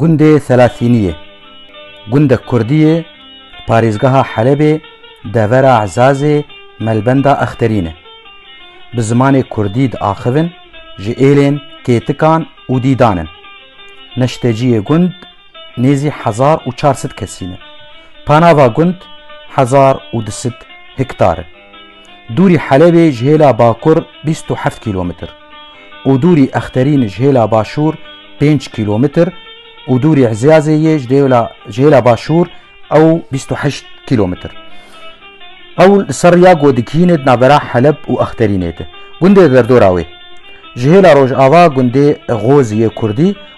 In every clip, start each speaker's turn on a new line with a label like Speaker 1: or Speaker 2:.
Speaker 1: Gundê Selasînî ye gundek kurdî ye li parêzgeha Helebê devera Ezazê melbenda Exterîn e. Bi zimanê kurdî diaxivin ji êlên, kêtikan û dîdan in. Neşteciyê gund nêzî hezar û çar sed kesî ne. Panava gund hezar û du sed hiktar e. Dûrî Helebê ji hêla bakur bîst û heft kîlometr û dûrî Exterîn ji hêla başûr pênc kîlometr û dûrî Ezyazê yê ji hêla başûr ew bîst û heşt kîlometr. Ew li ser rêya ku digihîne di navbera Heleb û Exterînê de. Gundê derdora wê ji hêla rojava gundê Xozî yê kurdî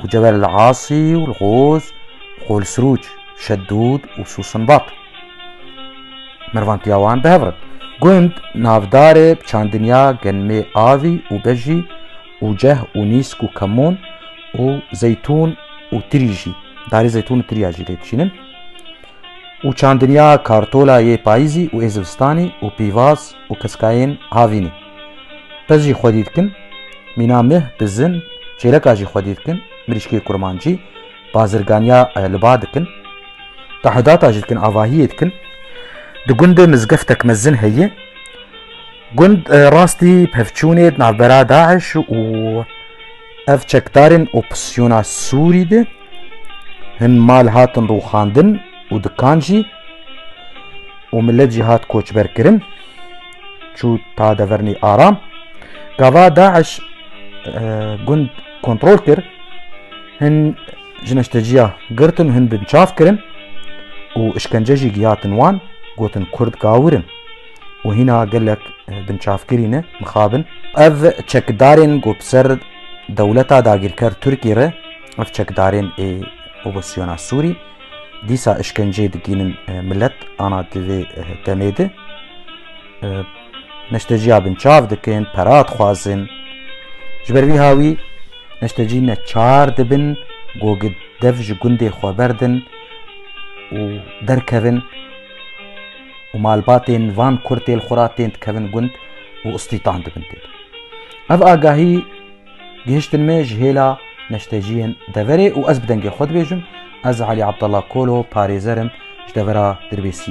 Speaker 1: û Cebel El Asî û El Goz û Qol Sirûc, Şeddûd û Sûsinbat. Mervan tiya wan bi hev re. Gund navdarê bi çandin ya Genmê Avî û Bejî û Ceh û Nîsk û Kemûn û Zeytûn û Tirî jî, darê Zeytûn û Tiriya jî lê diçînin û çandin ya Kartola yê Payîzî û ê Zivistanî û Pîvaz û Keskayên Havînî. Qız jî xwedî dikin, mîna meh, bizin, çêreka jî xwedî dikin, mirîşkê kurmancî, bazirganiya li ba dikin, tahudata jî dikin, avahiyê dikin. Di gundê mizgeftek mezin heye. Gund rastî pevçûnê di navbera Daeş û ev çekdarên opozîsyona Sûrî de hin mal hatin rûxandin û dikan jî û milet jî hat koçberkirin. çû ta devernî aram. Gava Daeş gund kontrol kir, hin ji neşteciya girtin û hin bin çav kirin û işkence jî giyatin wan, gotin Kurd gawir in û hîna gelek binçavkirî ne mixabin. Ev çekdarên ku bi ser dewleta dagîrker Tirkî re ev çekdarên ê opozisyona Sûrî dîsa işkenceyê digînin milet ana di vê demê de neşteciya bin çav dikin pera dixwazin ji ber vî hawî neştecî ne çar dibin gogê dev ji gundê xwe berdin û derkevin û malbatên van kurtêl xwe ra tên dikevin gund û istîtan dibin tê ev agahî Gihiştin me ji hêla neşteciyên deverê û ez bi dengê xwe dibêjim, ez Alî Abdallah Kolo parêzer im ji devera Dirbêsiyê.